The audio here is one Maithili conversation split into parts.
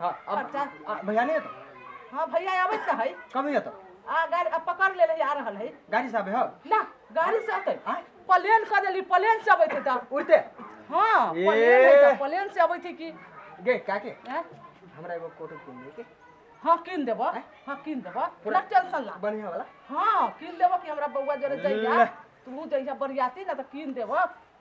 हाँ अब अच्छा। आ, भैया नहीं तो हाँ भैया आवे तो है कब नहीं तो आ गाड़ी अब पकड़ ले आ रहा है गाड़ी साहब है ना गाड़ी से आते आँय? प्लेन कर देली प्लेन से आवे थे तो उड़ते हाँ ए। प्लेन है तो प्लेन से आवे थे कि गे क्या के हैं? हमरा एगो कोट किन दे के हाँ किन देबो आँय? हाँ किन देबो पूरा- ना टेंशन ना बढ़िया वाला हाँ किन देबो कि हमरा बउआ जरे ले। जइया तू जइया बरियाती ना तो किन देबो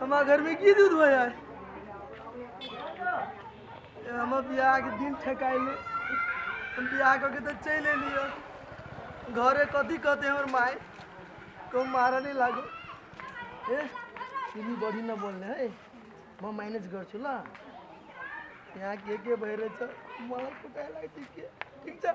हमरा घर में की दूध भैया हमर बियाह के दिन ठेकाइले हम बियाह कऽ के तऽ चलि एलियै घरे कथी कहते हमर माय कहूँ मारा नहीं लागो ए चीनी बड़ी ना बोलने है मैं मैनेज कर छु ला यहाँ के के बहरे छ मलाई कुटाए लागती के ठीक छ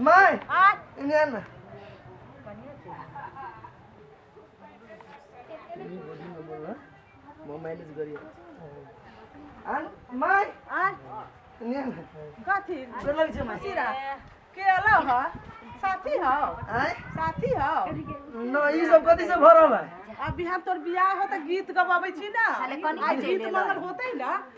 माय इन्हें ना आन माय आन इन्हें ना कथी गोर लग छै माय सिरा के अला ह साथी हो आय साथी हो न ई सब कथी से भरल है अब बिहान तोर बियाह हो त गीत गबाबै छी ना खाली कनिया आ गीत चलि एलौ। मंगल होतै ना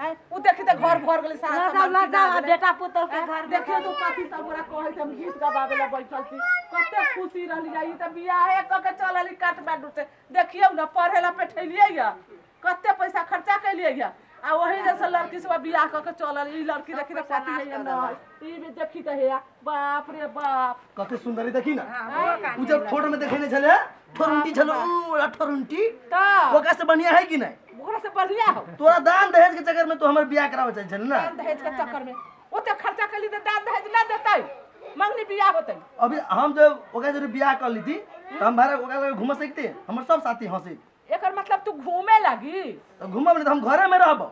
हैं? उ देखी त घर भर गेलै सारा लगा सामान लगा किना आ गेलै। बेटा पुतोह के घर में देखियो तू कथी सब पूरा कहै छै हम गीत गबाबे ला बैठल छी कते खुशी रहली जाई त बियाहे क के चलली काठमांडू से देखियौ न पढ़े ला पेठेलियै या कते पैसा खर्चा कैलियै या आ ओही जैसे लड़की सब बियाह क के चलल ई लड़की देखी त कथी है न ई भी देखी त हेया बाप रे बाप कते सुंदरी देखी ना हाँ, उ जब फोटो में देखे ने छले ठोरुंटी छलो ओला ठोरुंटी तो ओकरा से बढ़िया है कि नहीं ओकरा से बढ़िया हो तोरा दान दहेज के चक्कर में तो हमर बियाह करावे चाहे छल ना दान दहेज के चक्कर में ओते खर्चा कर ली तो दान दहेज ना देतै मंगनी बियाह होतै अभी हम जब ओकरा जरे बियाह कर ली थी तो हम भारत ओकरा लगे घूम सकते हमर सब साथी हंसी एकर मतलब तू घूमे लगी तो घूमब नहीं तो हम घरे में रहब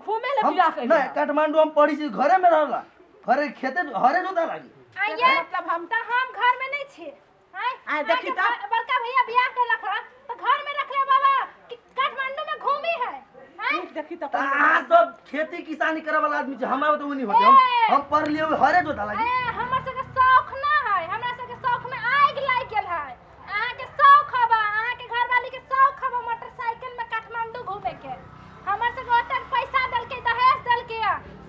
घूमे ले हम बियाह नहीं कइले काठमांडू हम पढ़ी छी घरे में रहला घरे खेते हरे जोता लागी आइए मतलब हम त हम घर में नहीं छी आय आय, देखी त। बड़का भैया बियाह कैलक हन त घर में रखले बाबा कि काठमांडू में घूमी है आय नीक देखी त त अहाँ सब खेती किसानी करे वाला आदमी छी हम आब तो नहीं होते हम हम पढ़ लिए हरे जोता लागी ए, हमर सबके शौक ना है हमरा सबके शौक में आग लाग गेल है अहाँ के शौक हवा अहाँ के घरवाली के शौक हवा मोटरसाइकिल में काठमांडू घूमे के हमर से ओतन पैसा दल के दहेज दल के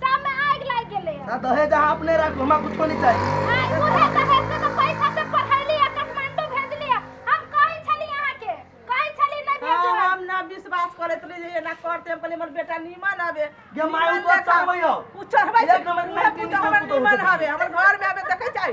सब में आग लाग गेले ना दहेज अहाँ अपने राखू हमरा कुछो नहीं चाहिए आई बुढ़े दहेज से तो पैसा से पढ़ैली आ काठमांडू भेजली आ। हम कहै छली अहाँ के कहै छली नहीं भेजो हाँ, हम ना विश्वास करत रही जे एना करते हम कहलिए हमर बेटा नीमन हवे ये मारू तो चढ़बै हो। उ चढ़बै एक नंबर के उहे लड़की पुतहु हमर नीमन पुतहु नीमन देखे। हवे हमर घर में हवे देखे छै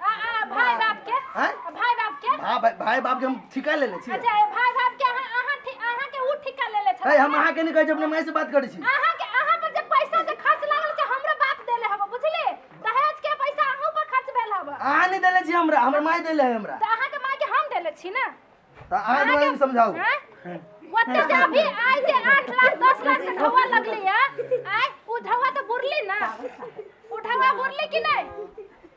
आ, आ, भाई बाप के हैं? आ, भाई बाप के भा- भाई भाई बाप के हम ठिका ले ले छियै अच्छा ए, भाई बाप के अहाँ अहाँ ठि- अहाँ के उ ठिका ले ले ए, छथिन हम अहाँ के नहीं कहै छी अपने माय से बात करै छी अहाँ के अहाँ पर जे पैसा जे खर्च लागल छै हमरो बाप देले हबो बुझली दहेज के पैसा अहूं पर खर्च भेल हबो अहाँ नहीं देले छी हमरा हमर माय देले है हमरा त अहाँ के माय के हम देले छी ना तऽ अहाँ दुआरे हम समझाउ हैं? ओते जे अभी आइ जे 8 लाख 10 लाख के ढौआ लगली है आइ उ ढौआ त बुरली ना उ ढौआ बुरली कि नहीं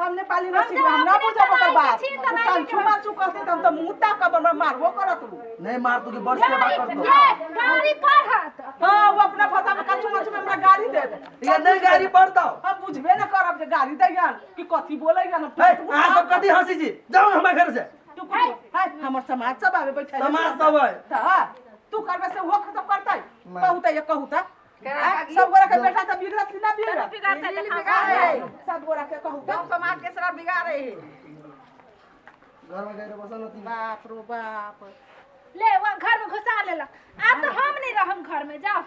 हम नेपाली ना सीख हम ना बुझब ओकर बात तन छुमा छु कहते त हम त मुंह तक अपन हमरा मारबो करत उ नहीं मार तू की बड़ सेवा कर दो गाड़ी पर हाथ हां वो अपना भाषा में कछु मछु में हमरा गाड़ी दे ये नहीं गाड़ी पर दो हम बुझबे ना करब जे गाड़ी दे यार कि कथि बोले यार हम है आ सब कथी हंसी जी जाओ हमरा घर से तू है हमर समाज सब आवे बैठे समाज सब है त तू करबे से वो खत्म करतै कहू त ये कहू त सब गोरा के बेटा त बिगड़त कि ना बिगड़त बिगाड़ते देखा सब गोरा के कहू गांव समाज के सारा बिगाड़े है घर में गए रे बसन होती बाप रो बाप ले वहाँ घर में घुसा लेला अब तो हम नहीं रहम घर में जाओ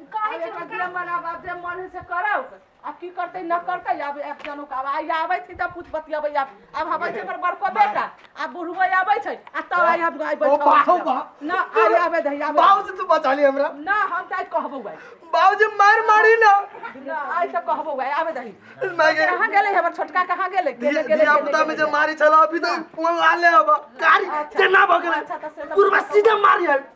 कहे अब छी एकर हुनका जे मन आब जे मन है से करौ आब की करतै न करतै आब एक जनू के आब आइ आबै छी तऽ पूछ बतियबै आब आब हबै छै हमर बड़को बेटा आ बुढ़बो आबै छै आ तब आइ हम आइ ओ बैठबै बाहु बा ना आइ आबै दही आबै बाबू से तू बचा ली हमरा ना हम तऽ आइ कहबौ आइ बाबू जी मार मारी ना ना आइ तऽ कहबौ आइ आबै दही मैं के कहाँ गेलै हमर छोटका कहाँ गेलै गेलै गेलै दिया गेलै, पुता में जे गेलै। मारी छला अभी तो फोन ला ले अब गाड़ी अच्छा। से ना भगले अच्छा, तो से तो पूरा भगले। सीधा मारी है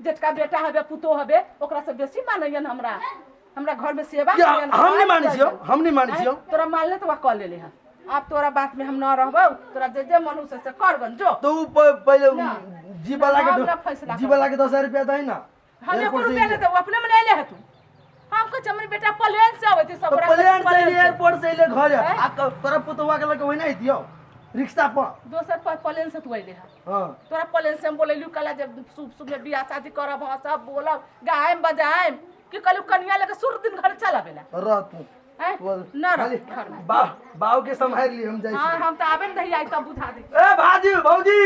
जेटका बेटा हबे पुतोह हबे ओकरा से बेसी मानैयन हमरा हमरा घर में सेवा कि करेलन, हम नहि मानै छियौ हम नहि मानै छियौ हैं? तोरा मानले तो कह लेले हैं आब तोरा बात में हम ना रहबो तोरा जे जे मन हो से से कर गन जो तो उ प- पहिले उ ना। जीवला के हमरा दो- फैसला कर। जीवला के दस हजार रुपया दही ना हमे एयरपोर्ट से रुपया ले ही- दे अपने में ले ले है तू हम कहै छी हमर बेटा प्लेन से अबै छै सब गोरा प्लेन से प्लेन एलियै से। एयरपोर्ट से एलियै घर हैं? आ तो- तोरा पुतवा के लगे वही नहीं दियो रिक्शा पर दोसर पर प्लेन से तू अइले है हाँ तोरा प्लेन से हम बोलेलू कला जब शुभ शुभ में बियाह शादी करब हाँ सब बोलब गायम बजायम कि कहलू कनिया लेके शुरू दिन घर चल आवेला तो रह तू हैं? तू रह। ना रह खाली घर में बा बाव के संभाल लिए हम जाई हाँ छी। हम तो आबे नहीं आई तब बुझा दे ए भाजी भौजी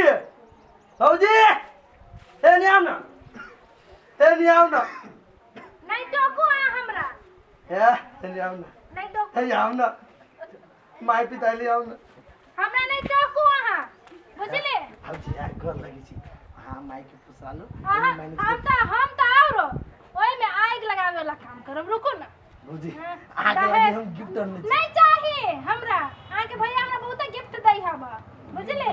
भौजी ए नियाम ना हे नहीं आओ ना नहीं टोको आ हमरा हे हे नहीं आओ ना नहीं टोको हे नहीं आओ ना माय पिता ले आओ ना हमरा नहीं टोको अहाँ बुझले हम जी आ कर लगी छी हां माय के पुसालो अहाँ हम तो हम तो आओरो ओए में आग लगावे वाला काम करब रुको ना भौजी हाँ, अहाँके दहेज। लागि हम गिफ्ट आनने छी नहीं चाहिए हमरा अहाँ के भैया हमरा बहुत गिफ्ट दै हम बुझले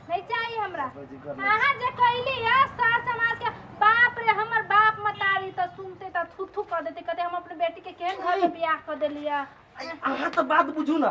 नहीं चाहिए हमरा भौजी कर ले अहाँ जे कहली है सार समाज के बाप रे हमर बाप मतारी त सुनते त थू थू कर देते कहते हम अपने बेटी के केहन घर में बियाह कर देलिया अहाँ तऽ बात बुझू ने